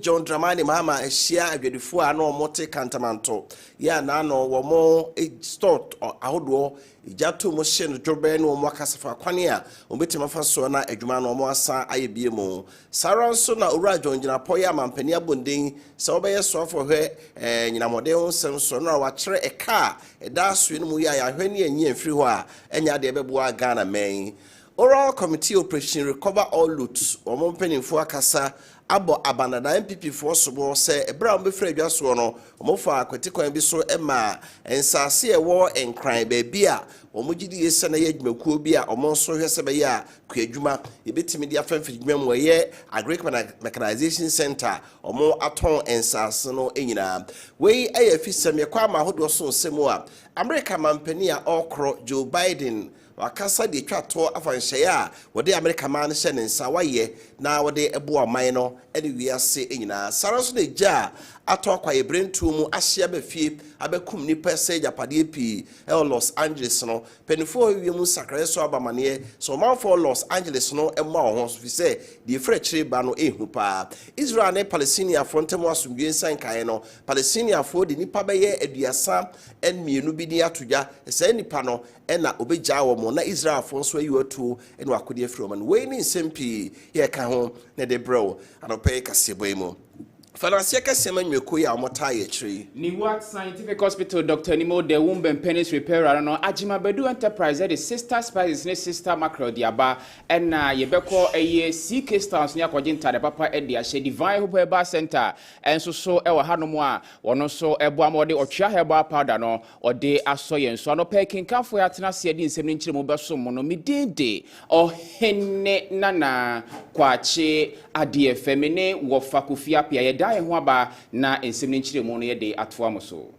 John Dramani Mahama ahyia adwadifo a na wɔte Kantamanto yi a na ano wɔn store ahodoɔ gya to mu hye no dworobɛɛ ne wɔn akasa fa kwan a wɔbɛtumi afa soɔ na adwuma no wɔn asan ayɛ bie mu. Saa ara nso na Owura John Gyinapɔ yɛ amampanin abɔnden sɛ wɔbɛyɛ so afɔhwɛ anyinam mmɔden ho nsɛm soɔ no na wakyerɛ ɛka a ɛda asoɛ no mu yɛ a yɛahwɛ ne yɛanyi amfiri hɔ a ɛnyɛ adeɛ ɛbɛboa Ghana mɛn. Oral Committee Operation Recover All Loot wɔn mpaninfoɔ akasa abɔ abanada NPP foɔ sobo sɛ ɛberɛ a wɔbɛfiri adwa soɔ no wɔfaa kwati kwan bi so maa nsaase a ɛwɔ Nkran baabi a wɔgye die sɛ na yɛ adwumakuo bi a wɔn nso hwɛ sɛ bɛyɛ a kuadwuma yɛbɛtumi de afa mfiridwuma mu ɛyɛ Agric Mechanization Centre wɔn atɔn nsaase no nyinaa wei ɛyɛ afisɛm yɛkɔ ama ahodoɔ so nsɛm mu a Amerika mampanin a ɔrekoro Joe Biden Wakasa de atwa toɔ afa nhyɛeɛ a wɔde Amerika maa no hyɛɛ ne nsa wayɛ na wɔde boa ɔman no ne wiase nyinaa. Saa ara nso na egya a atɔ akwaeɛ berɛntuo mu ahye aba fie abɛkum nnipa, asɛe agyapadeɛ pii wɔ Los Angeles no. Mpanimfoɔ hɔ ewiem nsakraeɛ nso abɔ amaneɛ sɛ ɔmanfoɔ wɔ Los Angeles no mmɔ wɔn ho so firi sɛ deɛ ɛfiri akyire reba no ɛrehu pa ara. Israel ne Palestiniafoɔ ntam asomdwoeɛ nsa nkaeɛ no, Palestiniafoɔ de nnipa bɛyɛ aduasa mmienu bi din ato dwa. Saa nnipa no ɛna ɔbɛgyaa wɔn, na Israelfoɔ nso ayi wɔn atuo ne wɔn akodeɛ afiri wɔn ano. Wei ne nsɛm pii yɛreka ho na ɛde brɛ wo anɔpa yi kaseɛbɔ yi mu. Fa no aseɛ kɛseɛ ma nnwumakuo yi a wɔtaa yɛ akyire yi. Niwak Scientific Hospital Doctor Anim Ɔda Womb and Penis Repair Ara no, Agyima Badu Enterprise de Sister Spices ne Sister Mackerel de aba. Ɛna yɛbɛkɔ ɛyɛ CK Styles ne akɔgye ntaade papa de ahyɛ. Divine Hope Herbal Center nso so wɔ hanom a wɔn nso boa ma wɔde Ɔtwea Herbal Powder no Ɔde asɔ yɛn so. Anɔpa yi, kenkanfoɔ yi atena aseɛ de nsɛm no nkyerɛmu bɛsom mo no. Me din de Ɔhene Nana Kwakye Adeɛfɛ. Me ne Wɔfa Kofi Appiah yɛda yɛn ho aba na nsɛm no nkyerɛmu no yɛde atoa mo so.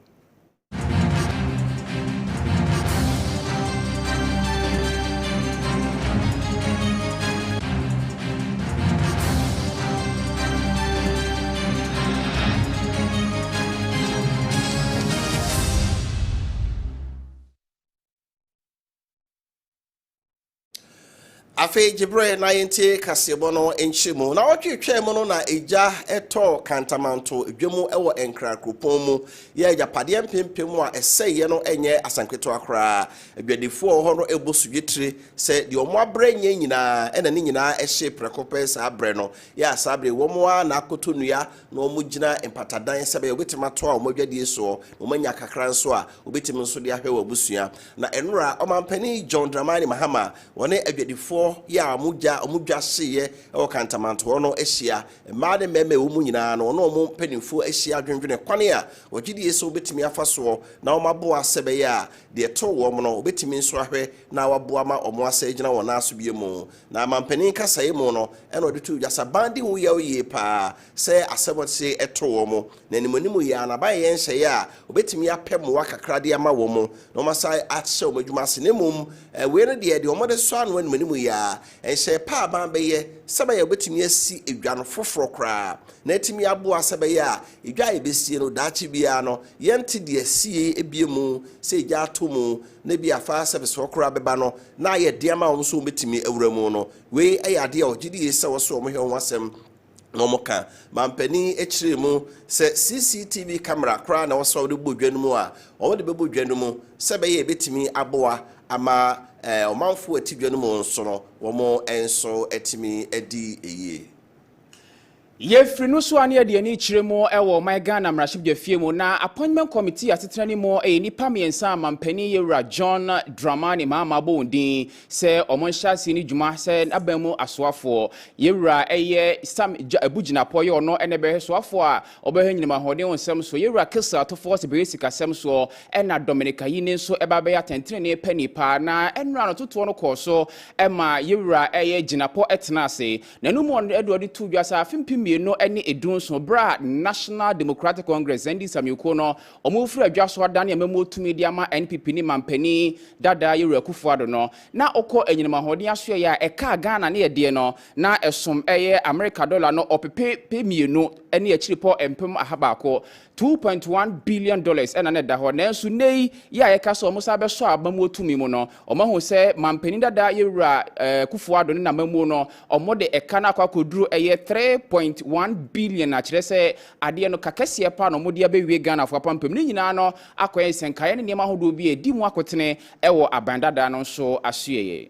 Afei gye berɛ na yɛntie kaseɛbɔ no nkyerɛmu. Na ɔtwe twaa mu no na egya tɔɔ kantamanto dwa mu wɔ Nkra kuropɔn mu yɛ agyapadeɛ mpempem a ɛsɛeɛ no nyɛ asɛm ketewa koraa. Adwadifoɔ wɔ hɔ no bɔ sodwetire Sɛ deɛ wɔn abrɛ nyɛ nyinaa ɛna ne nyinaa ɛhyee prɛko pɛ saa berɛ no, yɛ a saa berɛ yi wɔn ara na akoto nnua na wɔn gyina mpatadan sɛbɛyɛ wɔbɛtumi atoa wɔn adwadie soɔ na wɔn anya kakra nso a wɔbɛtumi nso de ahwɛ wɔn abusua. Na ɛnora Ɔmanpanin John Dramani Mahama wɔne adwadifoɔ yɛ a wɔn gya wɔn dwa hyeeɛ wɔ Kantamantoɔ no ahyia. Mmaa ne mmarima ɛwɔ mu nyinaa no wɔne wɔn mpaninfoɔ ahyia adwendwene kwane a wɔgyedie sɛ wɔbɛtumi afa soɔ na wɔn aboa sɛbɛyɛ a Deɛ ɛtoo wɔn no, wɔbɛtumi nso ahwɛ na wɔaboa ma wɔn asa agyina wɔn nan so bio mu. Na mampanin kasaeɛ mu no, ɛna ɔde too dwa sɛ, Aban di ho yaw yie pa ara sɛ asɛm a seesei ɛto wɔn, na animuanimu yi ara no, aban yɛ nhyɛeɛ a wɔbɛtumi apɛ mmoa kakra de ama wɔn na wɔasan ahyɛ wɔn adwuma ase. Na mmom, wei no deɛ, deɛ wɔde sɔ ano animuanimu yi ara, nhyɛeɛ pa a aban bɛyɛ sɛbɛyɛ a wɔbɛtumi asi dwa no foforɔ koraa na atumi aboa sɛbɛyɛ a Edwa a yebesie no daakye biara no, yɛnte deɛ ɛsiiɛ yi bie mu. Sɛ egya atɔ mu, na ebia fire service hɔ koraa bɛba no, na ayɛ den ama wɔn sɛ wɔbɛtumi awura mu no. Wei yɛ adeɛ a wɔgye die sɛ wɔsɔ wɔn hwɛ ho asɛm na wɔka. Manpanin yi kyerɛɛ mu sɛ CCTV camera koraa na ɛwɔ sɛ wɔde bɔ dwa no mu a, wɔde bɛbɔ dwa no mu sɛ ɛbɛyɛ a ɛbɛtumi aboa ama eh, ɔmanfoɔ a ɛte dwa no mu nso no, wɔn nso atumi adi yie. Yɛfiri no so a na yɛde yɛn ani kyerɛ mu wɔ ɔman Ghana mmarahyɛbdwafie mu na appointment committee asetena no mu ɛyɛ nnipa mmiɛnsa a mampanin yɛwura John Dramani Mahama abɔ wɔn din sɛ wɔn nhyɛ aseɛ no dwuma sɛ n'aban mu asoafoɔ. Yɛwura ɛyɛ Sam Gya Abu Gyinapoɔ yɛ ɔno ɛna ɛbɛhwɛ soafoɔ a ɔbɛhwɛ nyinam ahoɔden ho nsɛm soɔ, yɛwura Kissel Atoforse bɛyɛ sikasɛm soɔ ɛna Dominic Ayine nso ɛba abɛyɛ atɛntenenee panii paa na ɛnora no totoɔ no kɔɔ so ɛma yɛwura ɛyɛ Gyinapɔ ɛtenaa ase. N'anom wɔ no de ɔde too dwa sɛ afe mpem mmienu ne dunson bere a National Democratic Congress, NDC, amanyɔkuo no wɔrefiri adwa so adane amammuo tumi de ama NPP ne manpanin dada Yeru Akufo-Addo no na ɔkɔ anyinam ahoɔden asoɛeɛ a ɛkaa Ghana ne ɛdeɛ no na ɛsom ɛyɛ Amerika dɔla no ɔpepe pe mmienu ne akyirepɔ mpem aha baako Two point one billion dollars na na ɛda hɔ, nanso nnɛ yi yɛ a yɛka sɛ wɔsan bɛsɔ aba mu wɔ tumi mu no, wɔahu sɛ manpanin dada Yewura Akufo-Addo ne n'amammuo no, wɔde ɛka no akɔ akɔduru ɛyɛ three point one billion a kyerɛ sɛ adeɛ no ka kɛseɛ pa ara na wɔde abɛwie Ghanafoɔ apampam. Ne nyinaa no akɔyɛ nsɛnkaeɛ ne nneɛma ahodoɔ bi a ɛdi mu akotene wɔ aban dada no nso asoɛeɛ.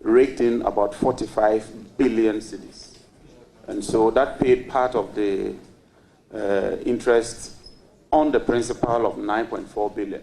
written about forty five billion cedis and so that paid part of the interest on the principal of nine point four billion.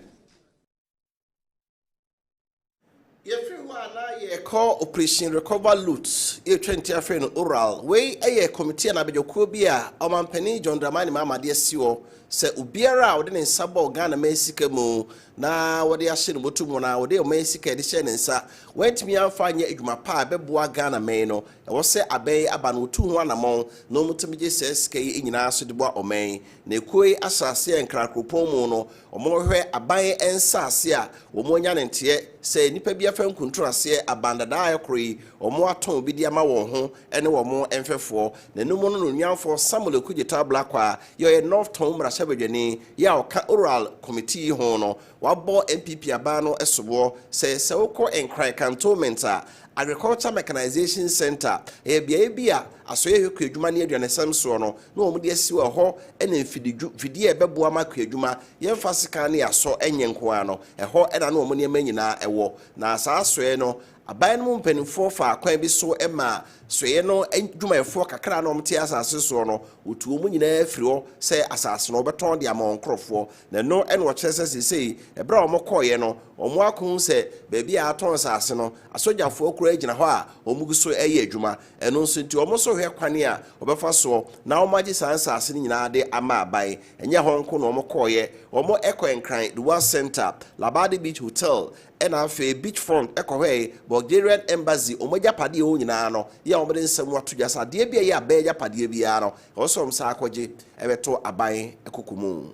Yɛfiri hɔ a na yɛrekɔ Operation Recover Loot, yɛretwa nti afei no Ural. Wei yɛ kɔmitii anaa abadwakuo bi a ɔmampanin John Dramani Mahama de asi hɔ sɛ obiara a ɔde ne nsa bɔɔ Ghana man sika mu na wɔde ahyɛ no bɔtɔ mu anaa wɔde ɔman sika de hyɛ ne nsa, wɔantumi amfa anyɛ adwuma pa a ɛbɛboa Ghana man no, ɛwɔ sɛ abɛn yi aba no wɔtu ho anamɔn na wɔtumi gye saa sika yi nyinaa so de boa ɔman yi. Na ekuo yi asase a Nkran kuropɔn mu no, wɔhwɛ aban nsase a wɔanya no nteɛ sɛ nnipa bi afa nkuntunu aseɛ aban dada a ɛkoro yi, wɔatɔn bi de ama wɔn ho ne wɔn mfɛfoɔ. N'anom no na Onuamfoɔ Samuel Okudzeto Ablakwa, Deɛ ɔyɛ North Tongu mmarahyɛbadwani yi a ɔka Ural Committee yi ho no, wabɔ NPP aban no soboɔ sɛ, sɛ wokɔ Nkran Cantonment a, Agriculture Mechanisation Centre, ɛyɛ beaeɛ bi a asoeɛ hwɛ kuadwuma ne aduanesɛm soɔ no na wɔde asi hɔ, ɛhɔ na mfididwu, mfidie a ɛbɛboa ma kuadwuma, yɛmfa sekan ne asɔ nyɛ nko ara no, ɛhɔ na na wɔn nneɛma nyinaa wɔ. Na saa asoeɛ no, Aban no mu mpanimfoɔ faa kwan bi so maa soeɛ no adwumayɛfoɔ kakra a na wɔte asase no soɔ no, wɔtuu wɔn nyinaa firii hɔ sɛ asase no wɔbɛtɔn de ama wɔn nkurɔfoɔ. Na ɛno na wɔkyerɛ sɛ seesei, berɛ a wɔkɔeɛ no, wɔakɔhu sɛ baabi a wɔatɔn asase no, asogyafoɔ koraa gyina hɔ a wɔgu so reyɛ adwuma. Ɛno nso nti, wɔn nso rehwɛ kwan a wɔbɛfa soɔ na wɔagye saa nsase no nyinaa de ama aban. Ɛnyɛ hɔ nko na wɔkɔeɛ, wɔkɔɔ Nkran, Duwar Centre, Labadi Beach Hotel Ɛna afei Beach Front kɔhwɛe Bulgarian Embassy, wɔn agyapadeɛ hɔ nyinaa no, yɛ a wɔde nsɛm no ato dwa sɛ adeɛ bi a ɛyɛ aban agyapadeɛ biara no, ɛwɔ sɛ wɔsan kɔgye bɛto aban koko mu.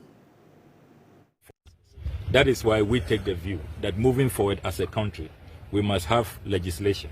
That is why we take the view that moving forward as a country, we must have legislation.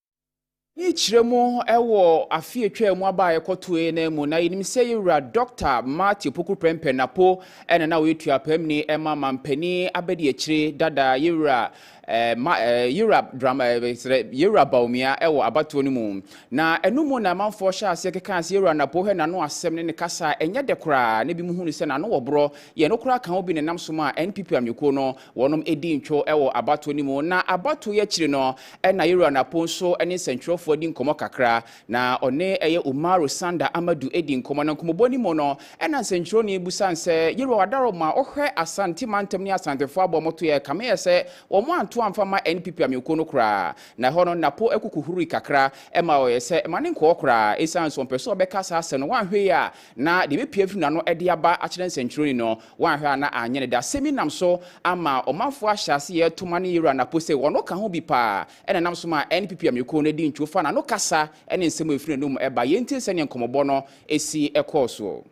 Mekyerɛ mu wɔ afe a atwaa mu aba a ɛkɔtoe no mu, na yɛnim sɛ yɛwura Dɔkta Marty Opoku Prempeh Apo na na ɔyɛ tuapaamni ma mampanin abadiakyire dada yɛwura eh, ma, eh, yɛwura drama, eh, yɛwura Bawumia wɔ abatoɔ no mu. Na ɛno mu na amanfoɔ hyɛ aseɛ kekaa sɛ yɛwura Napo hɛ n'ano asɛm ne ne kasa a ɛnyɛ dɛ koraa na binom hunu sɛ n'ano wɔ borɔ. Yɛn no koraa ka ho bi na ɛnam so maa NPP amanyɔkuo no wɔnom di ntwo wɔ abatoɔ no mu. Na abatoɔ yi akyiri no, na Yɛwura no apon so ne nsɛntwerɛfoɔ adi nkɔmmɔ kakra, na ɔne ɛyɛ Umaru Sanda Amadu di nkɔmmɔ, na nkɔmmɔbɔ no mu no, ɛna nsɛntwerɛni bisa no sɛ, Yɛwura w'adaworo mu a wohwɛ Asante mantam ne Asantefoɔ aboa mmɔtoyɛ a ɛkame yɛ sɛ wɔn anto amfa mma NPP amanyɔkuo no koraa, na ɛhɔ no Napo kuku huruui kakra ma ɔyɛ sɛ mma no nkɔɔ koraa, ɛsiane sɛ ɔmpɛ sɛ ɔbɛka saa asɛm no, wanhwɛ yie a, Na deɛ ɛbɛpue afiri n'ano de aba akyerɛ nsɛnkyerɛnni no, woanhwɛ a na anyɛ ne dɛ. Asɛm yi nam so ama ɔmanfoɔ ahyɛ aseɛ reto ma ne yera no apo sɛ ɔno ka ho bi pa ara. Ɛna ɛnam so ma NPP amanyɔkuo no di ntwo fa n'ano kasa ne nsɛm a ɛfiri n'anom ba. Yɛntie sɛdeɛ nkɔmmɔbɔ no si kɔɔ soɔ.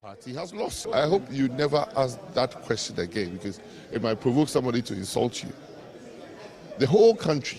Party has lost. I hope you never ask that question again because it might provoke somebody to insult you. The whole country.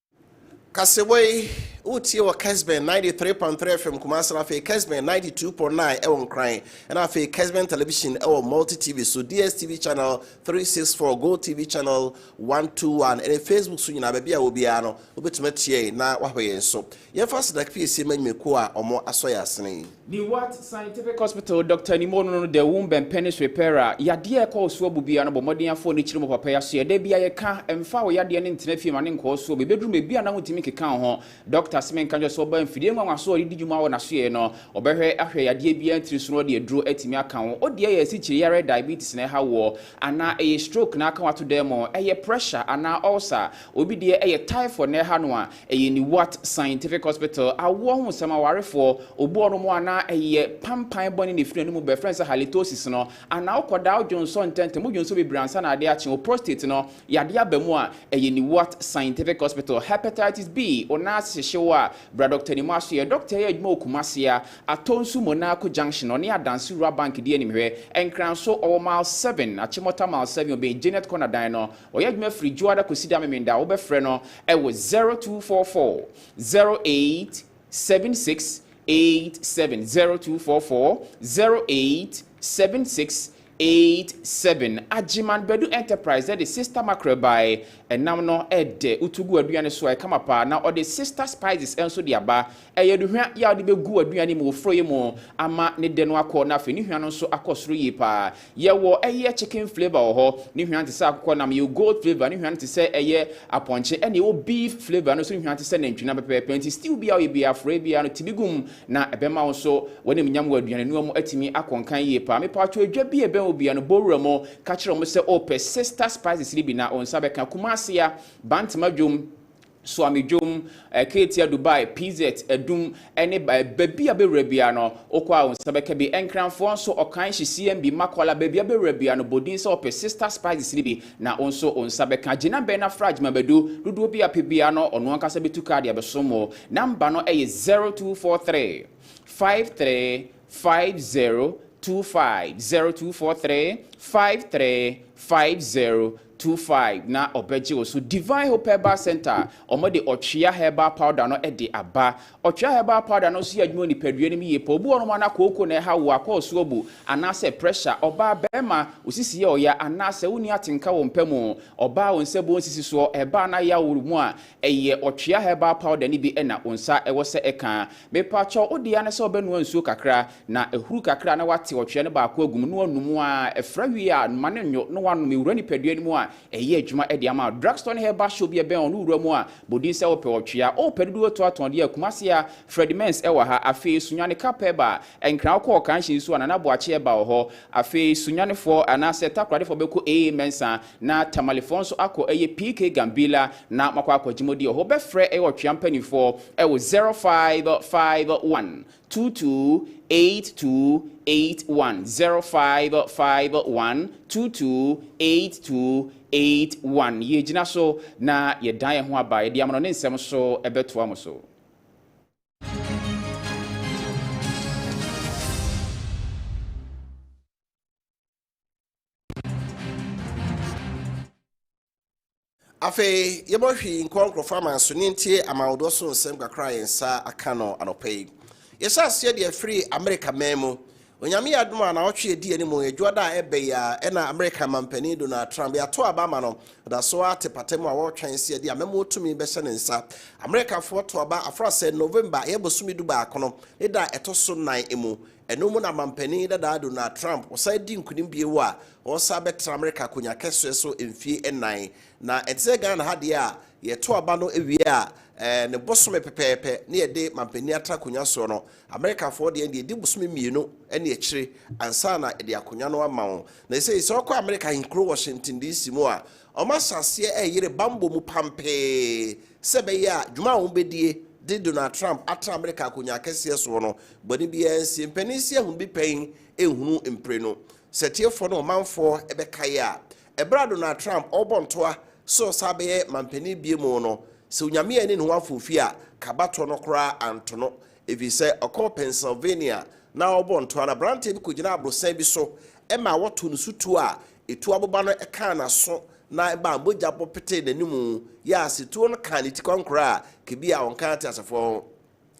Kasewa yi, wotie wɔ Kesben 93.3 FM Kumasi na afei Kesben 92.9 ɛwɔ Nkran, ɛna afei Kesben Television ɛwɔ Multi TV so, DSTV Channel 364, Go TV Channel 121, ɛne Facebook so nyinaa baabi a wɔ biara no, wobɛtumi atie yɛn na wahwɛ yɛn so. Yɛmfa aseda piesie ma nnwumakuo a wɔn asɔ yɛn asene yi. Newark Scientific Hospital dɔktani mu ɔnono no The Womb and Penis Repairer, yadeɛ a ɛkɔ ɔsoɔ bu biara no bɔ mmɔden afoɔ ne kyerɛ mu papa yi asoeɛ. Da biara yɛka, mfa wo yadeɛ no ntena fie ma no nkɔ ɔsoɔ. Bɛbɛduru baabi a na wontumi nkeka wo ho. Dɔkta se menka nkyerɛ sɛ ɔbaa mfidie nwanwa so a ɔde di dwuma wɔ n'asoeɛ no. Ɔbɛhwɛ ahwɛ yadeɛ biara ntini so na ɔde aduro atumi aka wo. Wo deɛ ɛyɛ asikyireyare, diabetes, na ɛha woɔ? Anaa ɛyɛ stroke na aka wo ato dan mu? Ɛyɛ pressure anaa ulcer? Obi deɛ ɛyɛ typhoid na ɛha no a? Ɛyɛ Nuwart Scientific Hospital awoɔ ho nsɛm, awarefoɔ, obuɔ no mu a na ɛyɛ pampan bɔne na ɛfiri anum ba, yɛfrɛ no sɛ halitosis no, anaa wokɔdaa wo dwonsɔ ntɛntɛm, wo dwonsɔ bebree ansa na adeɛ akye, wo prostate no yadeɛ aba mu a, ɛyɛ Nuwart Scientific Hospital. Hepatitis B, wo nan ase hyehye wo a, bra Dɔkta Anim aso yɛ. Dɔkta yi yɛ adwuma wɔ Kumasi, a atɔ nsu Monarco Junction, ɔne Adanse Rural Bank di animhwɛ. Nkranso, ɔwɔ mile seven, Achimota mile seven, ɔbɛn Janet Corner dan no. Ɔyɛ adwuma firi Dwoada kɔsi da Memenda, wobɛfrɛ no ɛwɔ zero two four four zero eight seven six eight seven zero two four four zero eight seven six eight seven agyeman badu enterprise ɛde sister mackerel bae ɛnam no ɛdɛ utugu aduane so ɛkama paa na ɔde sister spices ɛnso de aba Ɛyɛ aduhwa yi a wode bɛgu w'aduane mu wɔ forɔeɛ mu ama ne dɛ no akɔ na afei ne hwa no nso akɔ soro yie pa ara. Yɛwɔ ɛyɛ chicken flavour wɔ hɔ, ne hwa no te sɛ akokɔnam, yɛwɔ goat flavour, ne hwa no te sɛ ɛyɛ apɔnkye, ɛnna yɛwɔ beef flavour, ɛno nso ne hwa te sɛ nantwinam pɛpɛɛpɛ. Enti stew biara a woyɛ biara, forɔeɛ biara no, ti bi gu mu na ɛbɛma wo nso w'animnyam wɔ aduanenoa mu atumi akɔ nkan yie pa ara. Mepaatwo edwa bi a ɛbɛn wo biara no, bɔ wura mu ka kyerɛ wɔn sɛ worepɛ Sister Spices no bi na wo nsa bɛka. Kumasi a, Bantama Dwom, Suame Dwom, Ketia, Dubai, PZ, Adum, ne baabi a bɛwura biara no, wokɔ a wo nsa bɛka bi. Nkranfoɔ nso, Ɔkan, Hyisiambi, Makwala, baabi a bɛwura biara no, bɔ din sɛ wopɛ Sister Spices no bi na wo nso wo nsa bɛka. Gyinabɛn no afra Agyima bɛdu. Dodoɔ bi a wopɛ biara no, ɔno ankasa bɛtu kaa de abɛsom wo. Number no yɛ 0243 53 5025, 0243 53 5025. two five na ɔbɛgye wo so. Divine Hope Herbal Center, wɔde ɔtwea herbal powder no de aba. Ɔtwea herbal powder no nso yɛ adwuma wɔ nipadua no mu yie paa. Obi wɔ nom a na kooko na ɛha wo a, kɔ ɔso abu, anaasɛ pressure, ɔbaa, barima, wo sisi yɛ ɔya, anaasɛ wonni atenka wɔ mpa mu, ɔbaa, wo nsa bu wo nsisi soɔ, ɛbaa na yaw wo mu a, Ɛyɛ ɔtwea herbal powder no bi na wo nsa wɔ sɛ ɛka. Mepakyɛw, wo dea ne sɛ wobɛnoa nsuo kakra, na ahuru kakra na woate ɔtwea no baako agu mu na woanom a, ɛfra wie a, ma no nnwo na woanom. Ɛwura nipadua no mu a, ɛyɛ adwuma de ama wo. Drugstore ne herbal shop bi a ɛbɛn wo no wura mu a, bɔ din sɛ wopɛ ɔtwea. O, pɛ dodoɔ tɔ atɔn deɛ a, Kumasi ha, Fred Mens wɔ ha. Afei, Sunyani Cup Herbal, Nkran wokɔ Ɔkanhye nso a, Nana Boakye Herbal wɔ hɔ. Afei, Sunyanifoɔ anaasɛ Takoradefoɔ bɛkɔ AA Mensah, Na Tamalefoɔ nso akɔ ɛyɛ PK Gambila na moakɔ akɔgye mo deɛ. Hɔ bɛfrɛ ɛyɛ ɔtwea mpanifoɔ ɛwɔ zero five five one two two eight two eight one zero five five one two two eight two eight one Yɛregyina so na yɛdan yɛn ho aba yɛde amono ne nsɛm so ɛbɛtoa mo so. afei yɛbɔ hwii nkɔ nkurɔfoɔ amanso ne ntie amanwodoɔ so nsɛm kakra a yɛn nsa aka no anɔpa yi yɛhyɛ aseɛ deɛ firi amerika man mu onyame yɛ adom a naɔtwe ɛdi anim adwua da a ɛbɛ yi a ɛna amerika mampanin donald trump yɛato aba ama no ɔda so a te pata mu a wɔretwɛn sɛ yɛde amɛmoɔ tumi bɛhyɛ ne nsa amerikafoɔ to aba afra sɛ november ɛyɛ bosome du baako no ne da a ɛtɔ so nan mu Ɛno mu na manpanin dadaa Donald Trump, ɔsan di nkunim bio a, ɔresan bɛtra Amerika akonya kɛseɛ so mfie nnan. Na ɛte sɛ Ghana ha deɛ a, yɛto aba no wie a, ɛɛ ne bosome pɛpɛɛpɛ ne yɛde manpanin atra akonya soɔ no. Amerikafoɔ deɛ, deɛ ɛdi bosome mmienu ne akyire ansa na yɛde akonya no ama wɔn. Na sɛi, sɛ wɔkɔ Amerika ahenkuro Washington DC mu a, wɔahyɛ aseɛ reyere bammɔ mu pampee sɛ ɛbɛyɛ a, dwuma a wɔbɛdie de Donald Trump atra Amerika akonya kɛseɛ soɔ no, Bɔne biara nsie. Mpanin nsi ahunu bi pɛn nhunu mpire no. Sɛ tiefoɔ ne ɔmanfoɔ bɛkae a, ɛberɛ a Donald Trump ɔrebɔ ntoa sɛ ɔsan bɛyɛ mampanin biemu no, sɛ Onyame anni ne ho afoofi a, ka abatoɔ no koraa anto no. Ɛfiri sɛ ɔkɔɔ Pennsylvania na ɔrebɔ ntoa no, aberanteɛ bi kɔgyinaa aborosan bi so maa wɔtoo no so tuo a ɛtuo aboba no kaa n'aso na ɛmaa mogya bɔ petee n'animu. Yaa sɛ tuo no kaa ne ti kwankorɔ a, ka bi a ɔnkaa ateasefoɔ ho.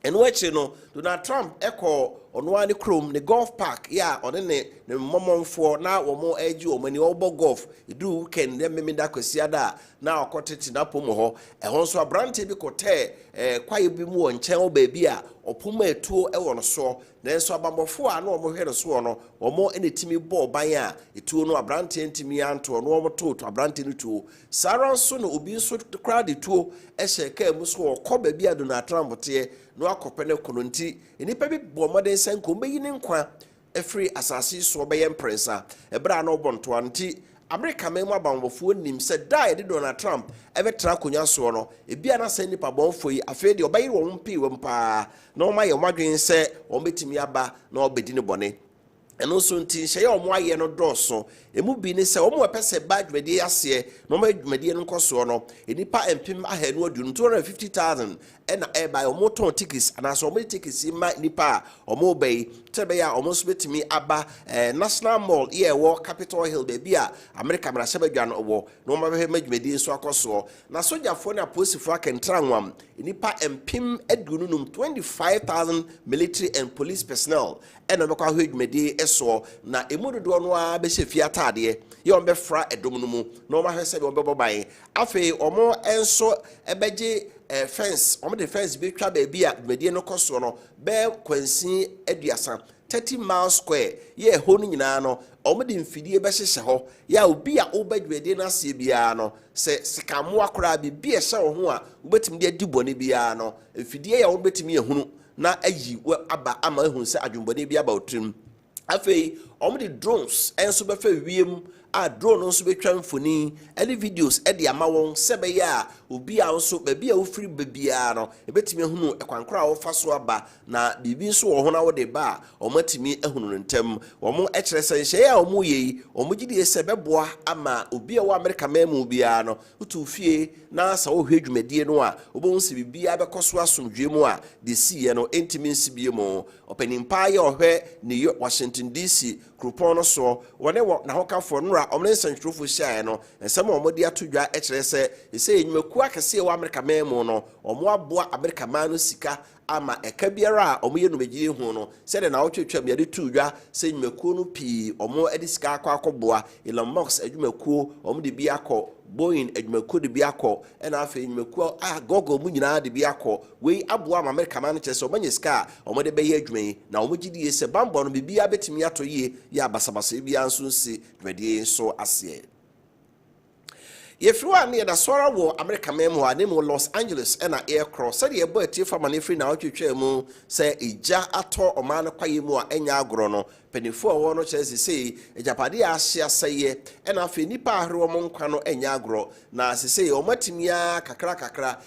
Ɛno akyiri no, Donald Trump kɔɔ ɔno ara ne kurom, ne golf park yɛ a ɔne ne ne mmɔmɔnfoɔ na wɔregye wɔn ani, wɔrebɔ golf, ɛduruu weekend dɛ Mmemeda Kwasiada a, na ɔkɔtete n'apom wɔ hɔ. Ɛhɔ nso, aberanteɛ bi kɔtɛɛ eh, kwaeɛ bi mu wɔ nkyɛn hɔ baabi a ɔpom a ɛtuo wɔ no soɔ, nanso abanbɔfoɔ a na wɔhwɛ no soɔ no, wɔn na ɛtumi bɔɔ ban a ɛtuo no, aberanteɛ ntumi antoɔ no, wɔtoo aberanteɛ no tuo. Saa ara nso na obi nso koraa de tuo hyɛ kaa mu so a ɔkɔ baabi a Donald Trump teɛ na wakɔpɛ no ko no nti, nnipa bi bɔɔ mmɔden sɛ anka wɔbɛyi ne nkwa afiri asase yi soɔ bɛyɛ mprɛnsa. Ɛberɛ a na ɔbɔ ntoa no nti, Amerika man mu abanbɔfoɔ nim sɛ da a yɛde Donald Trump bɛtena akonnwa soɔ no, ebia na saa nnipa bɔnefoɔ yi afei deɛ wɔbɛyere wɔn mpewam pa ara na wɔayɛ wɔn adwene sɛ wɔbɛtumi aba na wɔabɛdi no bɔne. Ɛno nso nti, nhyehyɛeɛ a wɔayɛ no dɔɔso. Emu bi ne sɛ, wɔn a wɔpɛ sɛ ɛbaa dwumadie yi aseɛ na wɔma dwumadie no nkɔsoɔ no, nnipa mpem ahanu aduonum, 250,000, na ɛreba. Wɔtɔn tickets anaasɛ wɔde tickets yi ma nnipa a wɔreba yi sɛdeɛ ɛbɛyɛ a wɔn nso bɛtumi aba eh, National Mall yi a ɛwɔ Capitol Hill, baabi a Amerika mmarahyɛbadwa no wɔ, na wɔabɛhwɛ ma dwumadie nso akɔsoɔ. Na sogyafoɔ ne apolisifoɔ aka ntranwam nnipa mpem aduonu num, 25,000 military and police personnel, na wɔbɛkɔ ahwɛ dwumadie soɔ, na emu dodoɔ no ara bɛhyɛ fie ataadeɛ, yɛ wɔbɛfra dɔm no mu, na wɔahwɛ sɛdeɛ wɔbɛbɔ ban. Afei wɔn nso bɛgye eh, fence, wɔde fence bɛtwa baabi a dwumadie no kɔ soɔ no bɛyɛ kwansin aduasa, 30 miles square, yɛ ɛhɔ no nyinaa no wɔde mfidie bɛhyehyɛ hɔ, yɛ a obi a woba dwumadie no aseɛ biara no, sɛ sekammoa koraa biribi a ɛhyɛ wo ho a wobɛtumi de adi bɔne biara no, mfidie yɛ a wɔbɛtumi ahunu na ayi wo aba ama ahu sɛ adwemmɔne bi aba wo tirim. Afei, wɔde drones nso bɛfa wiem a drone no nso bɛtwa mfoni ne videos de ama wɔn sɛ ɛbɛyɛ a obi a nso baabi a wofiri ba biara no, ɛbɛtumi ahunu kwan koro a wɔfa so aba na biribi nso wɔ ho na wode ba a, wɔatumi ahunu no ntɛm. Wɔn kyerɛ sɛ nhyɛeɛ a wɔreyɛ yi, wɔn gyedie sɛ ɛbɛboa ama obi a ɛwɔ Amerika man mu biara no Wotu fie na sɛ wohwɛ dwumadie no a, wobɛhu sɛ biribiara bɛkɔ so asomdwoeɛ mu a deɛ ɛsiiɛ no ntumi nsi biom. Ɔpanin pa ara yi a ɔhwɛ New York, Washington DC kuropɔn no soɔ, wɔne wɔ, n'ahokafoɔ, nnora a wɔne nsɛntwerɛfoɔ hyiaeɛ no, nsɛm a wɔde ato dwa kyerɛ sɛ seesei nnwumakuo akɛseɛ a ɛwɔ Amerika man mu no, wɔaboa Amerika man no sika ama ɛka biara a wɔyɛ dwumadie yi ho no sɛdeɛ na wɔtwe twam yɛde too dwa sɛ nnwumakuo no pii wɔde sika akɔ akɔboa Elon Musk adwumakuo wɔde bi akɔ Boeing adwumakuo de bi akɔ ɛna afei nnwumakuo a Google mu nyinaa de bi akɔ wei aboa ama Amerika man no kyerɛ sɛ wɔanya sika a wɔde bɛyɛ adwuma yi na wɔn gye die sɛ bambɔ no biribiara bɛtumi atɔ yie yɛ abasabasayɛ biara nso nsi dwumadie yi nso aseɛ. Yɛfiri hɔ a, na yɛda so ara wɔ Amerika man mu hɔ a, na mmom Los Angeles na yɛrekorɔ. Sɛdeɛ yɛbɔɔ atiefo amanneɛ firi nnawɔtwe twaa mu sɛ egya atɔ ɔman no kwaeɛ mu a ɛnyɛ agorɔ no, mpanimfoɔ a wɔwɔ hɔ no kyerɛ sɛ seesei agyapadeɛ a ahye asɛeɛ na afei nnipa a ahwere wɔn nkwa no nyɛ agorɔ, na seesei wɔatumi ara kakrakakra,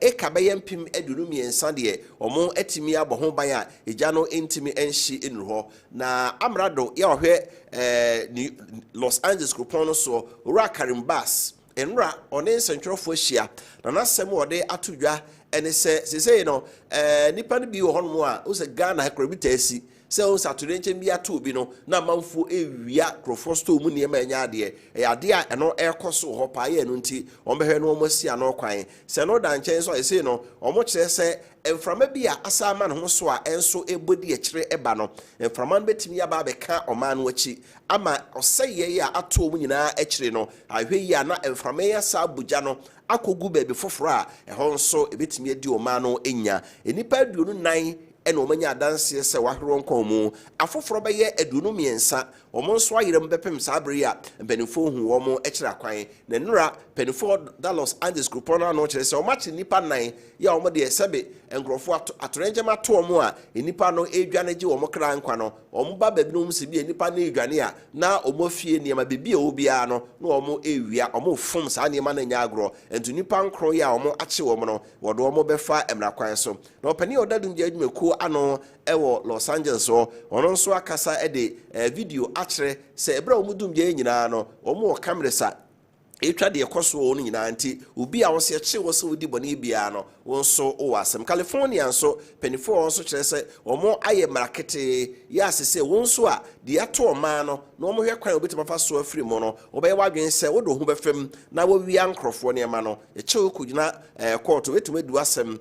eka bɛyɛ mpem aduonu mmiɛnsa deɛ, wɔatumi abɔ ho ban a egya no ntumi nhye nnuru hɔ. Na amrado yi a ɔhwɛ Los Angeles kuropɔn no soɔ, Owura Karim Bass, nnora ɔne nsɛntwerɛfoɔ ahyia, na n'asɛm a ɔde ato dwa ne sɛ, seesei no, nnipa no bi wɔ hɔnom a, wohu sɛ Ghana ha koraa bi taa si sɛ wohu sɛ atoyerɛnkyɛm bi ato obi no, na amanfoɔ rewia nkurɔfoɔ store mu nneɛma a ɛnyɛ adeɛ. Ɛyɛ adeɛ a ɛno ɛrekɔ so wɔ hɔ paa, yɛ ɛno nti, wɔbɛhwɛ na wɔasi ano kwan. Sɛ ɛno da nkyɛn nso a, seesei no, wɔkyerɛ sɛ Mframa bi a asan ama ne ho so a nso rebɔ di akyire reba no, mframa no bɛtumi aba abɛka ɔman no akyi ama ɔsɛeɛ yi a ato wɔn nyinaa akyire no ahwɛ yie a na mframa yi asan abɔ gya no akɔgu baabi foforɔ a ɛhɔ nso ɛbɛtumi adi ɔman no nya. Nnipa aduonu nnan na wɔanya adanseɛ sɛ wɔahwere wɔn kɔn mu, afoforɔ bɛyɛ aduonu mmiɛnsa Wɔn nso ayera mu bɛpem saa bere yi a mpanimfoɔ huu wɔn kyerɛ akwan. Na nnora mpanimfoɔ da Los Angeles kuropɔn no ano kyerɛ sɛ wɔakye nnipa nnan yi a wɔn deɛ sɛbe nkurɔfoɔ ato atoyerɛnkyɛm ato wɔn a nnipa no redwane regye wɔn kra nkwa no. Wɔn ba baabi na wɔhunu sɛ ebia nnipa no redwane a na wɔn afie nneɛma biribi a ɛwɔ biara no na wɔn rewia. Wɔrefom saa nneɛma no nyɛ agorɔ. Nti nnipa nkron yi a wɔakye wɔn no wɔde wɔn bɛfa mmara kwan so. Na ɔpanin a ɔda Dum Gya Adwumakuo ano wɔ Los Angeles hɔ, ɔno nso akasa de video akyerɛ sɛ bere a wɔn dum gyae nyinaa no, wɔn wɔ cameras a ɛretwa deɛ ɛkɔ so wɔ wɔn nyinaa nti, obi a wɔsi ɛkyere wɔ sɛ odi bɔne biara no, wo nso wowɔ asɛm. California nso, mpanyinfoɔ wɔ hɔ nso kyerɛ sɛ wɔn ayɛ mmara ketee, yɛ ase sɛ wɔn nso a deɛ ato wɔn man no na wɔn hwɛ kwan a wɔbɛtumi afa so afiri mu no, wɔbɛyɛ w'adwene sɛ wode wo ho bɛfa mu na wɔawia nkorɔfoɔ nneɛma no, yɛkyɛ wo kɔgyina kɔɔto, wɔbɛtumi adi w'asɛm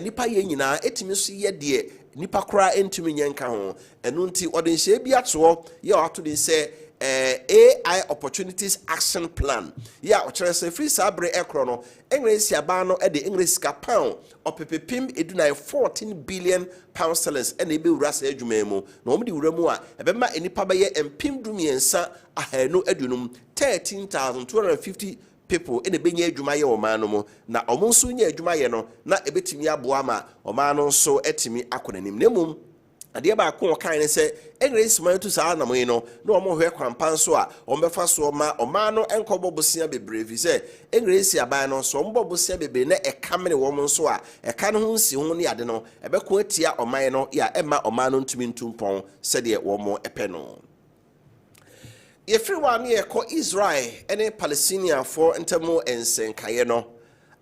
Nnipa yɛ nyinaa etumi nso yɛ deɛ nnipa koraa ntumi nyɛ nka ho. Ɛno nti ɔde nhyehyɛɛ bi ato hɔ yɛ a wato din sɛ AI Opportunities Action Plan yɛ a ɔkyerɛ sɛ firi saa bere ɛkorɔ no England nsiaban no de England sika pound ɔpepepem edunan, fourteen billion pound sterlings, na ɛbɛwura saa adwuma yi mu. Na wɔde wura mu a, ɛbɛma nnipa bɛyɛ mpem du mmiɛnsa, ahanu aduonum, thirteen thousand two hundred and fifty people na ɛbɛnya adwuma ayɛ wɔ ɔman no mu, na wɔn nso nya adwuma yɛ no, na ɛbɛtumi aboa ma ɔman no nso atumi akɔ n'anim. Na mmom, adeɛ baako a wɔkae ne sɛ, English man tu saa anammɔn yi no, na wɔhwɛ kwan pa nso a wɔbɛfa soɔ ma ɔman no nkɔbɔ bosea bebree, ɛfiri sɛ English aban no, sɛ wɔbɔ bosea bebree na ɛka mene wɔn nso a, ɛka no ho nsiho ne ade no, ɛbɛko atia ɔman no, ya ɛmma ɔman no ntumi ntu mpɔn sɛdeɛ wɔpɛ no. Yɛfiri hɔ a na yɛrekɔ Israel ne Palestiniafoɔ ntam nsɛnkaeɛ no.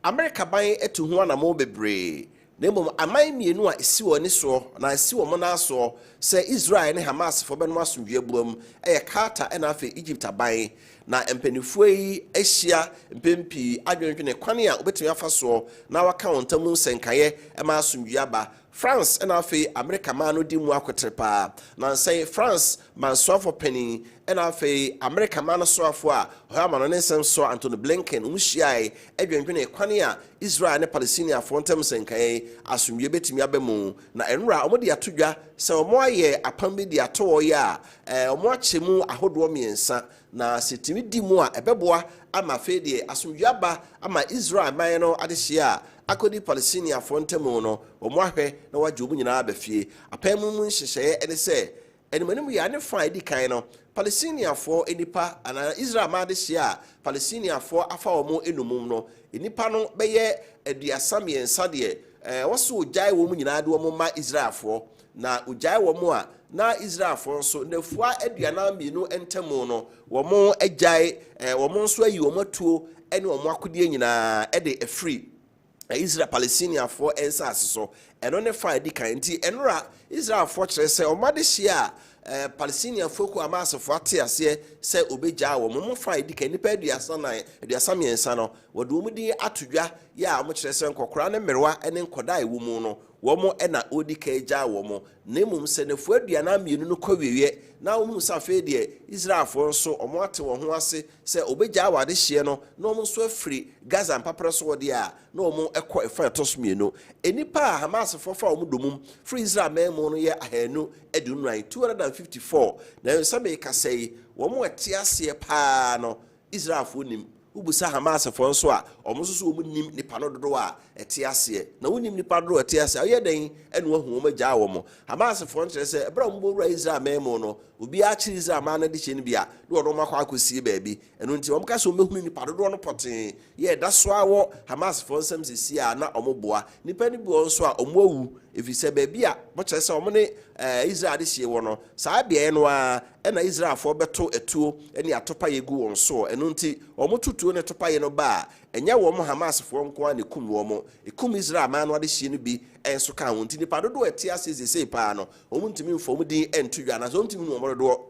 Amerika ban atu ho anammɔn bebree, na mmom aman mmienu a ɛsi wɔn ani soɔ anaa ɛsi wɔn nan asoɔ sɛ Israel ne Hamasfoɔ bɛnom asomdwoeɛ aboam yɛ Qatar na afei Egypt aban. Na mpanimfoɔ yi ahyia mpɛn pii adwendwene kwan a wɔbɛtumi afa soɔ na wɔaka wɔn ntam nsɛnkaeɛ ma asomdwoeɛ aba. France na afei Amerika man no di mu akotere paa. Nnansa yi, France man soafo panyin na afei Amerika man no soafo a ɔyɛ amannɔne nsɛm soa Antony Blinken no hyiae dwendwenee kwan a Israel ne Palestiniafo ntam nsɛnkae asomdwoe betumi aba mu na nnora a wɔde ato dwa sɛ wɔayɛ apam bi de ato hɔ yi a wɔakyɛ mu ahodoɔ mmiɛnsa Na sɛ tumi di mu a, ɛbɛboa ama afei deɛ asomdwoeɛ aba ama Israel man no adehyeɛ a akɔdi Palestiniafoɔ ntam no, wɔahwɛ na wɔagye wɔn nyinaa aba fie. Apam mu nhyehyɛeɛ ne sɛ, animanim yea ne fã a ɛdi kan no, Palestiniafoɔ nnipa, anaa Israel man adehyeɛ a Palestiniafoɔ afa wɔn nnommum no, nnipa no bɛyɛ aduasa mmiɛnsa deɛ wɔse wɔgyae wɔn nyinaa de wɔn ma Israelfoɔ. Na ogyae wɔn a na Israelfo nso, nnafua aduanan mmienu ntam no, wɔagyae wɔn nso ayi wɔn atuo ne wɔn akodeɛ nyinaa de afiri Israel Palestiniafoɔ nsase so. Ɛno ne fa a ɛdi kan. Enti, ɛnora Israelfoɔ kyerɛ sɛ wɔn adehyeɛ a Palestiniafoɔ kuo Hamasfoɔ ate aseɛ sɛ wɔbɛgyaa wɔn mu fa a ɛdi kan, nnipa aduasa nan, aduasa mmiɛnsa no, wɔde wɔn din ato dwa yɛ a wɔkyerɛ sɛ nkɔkoraa ne mmerewa ne nkɔdaa a ɛwɔ mu no, wɔn na ɔdi kan gyaa wɔn, na mmom sɛ nnafua aduanan mmienu no kɔ awieeɛ na wɔhunu sɛ afei deɛ Israelfoɔ nso wɔate wɔn ho ase sɛ wɔbɛgyaa wɔn adehyeɛ no na wɔn nso afiri Gaza mpaperɛ soɔ deɛ a, na wɔkɔ ɛfã a ɛtɔ so mmienu. Nnipa a Hamasfoɔ fa wɔn dommum firi Israel man mu no yɛ ahanu aduonu-nnan, 254, nanso sɛ merekasa yi, wɔn a wɔte aseɛ pa ara no Israelfoɔ nim. Wobisa Hamasfoɔ nso a, wɔn nso so wɔn nnim nnipa no dodoɔ a ɛte aseɛ. Na wonim nnipa dodoɔ a ɛte aseɛ a, woyɛ dɛn na woahu wɔn agyaa wɔn? Hamasfoɔ no kyerɛ sɛ, ɛberɛ a wɔn bɛwura Israel man mu no, obiara kyere Israel man no adehyeɛ no bi a, na wɔde wɔn akɔ akɔsie baabi. Ɛno nti, wɔka sɛ wɔbɛhunu nnipa dodoɔ no pɔtee. Yɛ ɛda so ara wɔ Hamasfoɔ nsam seesei a, na wɔboa. Nnipa no bi wɔ hɔ nso a, wɔawu, ɛfiri sɛ baabi a wɔkyerɛ sɛ wɔn ne Israel adehyeɛ wɔ no, Saa beaɛ no ara na Israelfoɔ bɛto atuo ne atopaeɛ gu wɔn soɔ, ɛno nti wɔn to tuo ne topaeɛ no ba a, ɛnyɛ wɔn Hamasfoɔ nko ara na ɛkum wɔn, ɛkum Israel aman no adehyeɛ no bi nso ka ho, nti nnipa dodoɔ a ɛte aseɛ seesei pa ara no, wɔntumi mfa wɔn din nto dwa, anaasɛ wɔntumi nhunu wɔn dodoɔ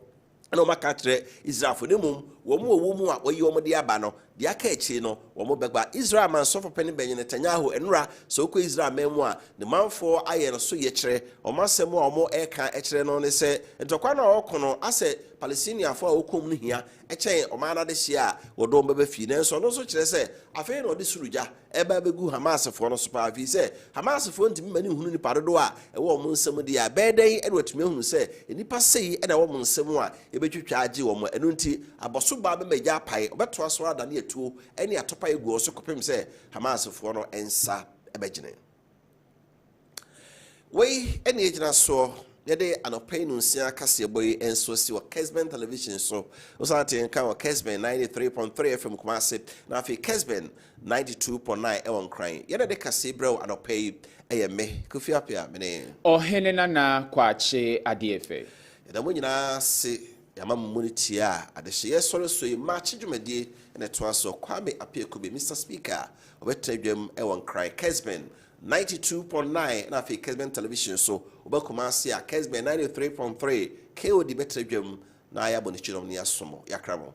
na wɔaka akyerɛ Israelfoɔ no, mmom wɔn a wɔwɔ mu a wɔayi wɔn de aba no Deɛ aka akyire no, wɔn bɛgba. Israel man sɔfopɛ no bɛnye Netanyahu nnora. Sɛ wokɔ Israel man mu a, ne manfoɔ ayɛ no so yɛkyerɛ. Wɔn asɛm a wɔreka kyerɛ no ne sɛ, ntɔkwa no a wɔreko no, asɛ Palestiniafoɔ a wɔkɔ mu no hia kyɛn ɔman no adehyeɛ a wɔde wɔn bɛba fie. Nanso ɔno nso kyerɛ sɛ, afei na ɔde soro gya ɛreba abegu Hamasfoɔ no so paa, ɛfiri sɛ Hamasfoɔ ntumi mma no nhunu nnipa dodoɔ a ɛwɔ wɔn nsam deɛ a, ɛbɛyɛ dɛn na wɔatumi ahunu sɛ nnipa sei na ɛwɔ wɔn nsam a ɛbɛtwitwa agye wɔn? Ɛno nti, abɔsobaa bɛma egya apae, wɔbɛtoa so ara adane atuo ne atopaeɛ agu wɔn so kɔpem sɛ Hamasfoɔ no nsa bɛgyene. Wei ne ɛgyina soɔ. Yɛde anɔpa yi no nsia kaseɛbɔ yi nso si wɔ Kesben television so. Wosan te nka wɔ Kesben 93.3 FM Kumase na afei Kesben 92.9 ɛwɔ Nkran. Yɛde de kaseɛ brɛ wo anɔpa yi ɛyɛ me Kofi Apea mene. Ɔhene Nana Kwakye Adeɛfɛ. Yɛda mo nyinaa ase yɛama mo mu no tie a adehyeɛ sɔre so yi March dwumadie na ɛtoa soɔ Kwame Apea Kube Mister Speaker. Wɔbɛtena dwam wɔ Nkran, Kesben ninety two point nine na afei Kesben Television so. Woba Kumasi a, Kesben ninety three point three. KOD bɛtena dwam na yɛabɔ ne kyinom na yɛaso mo, yɛakra mo.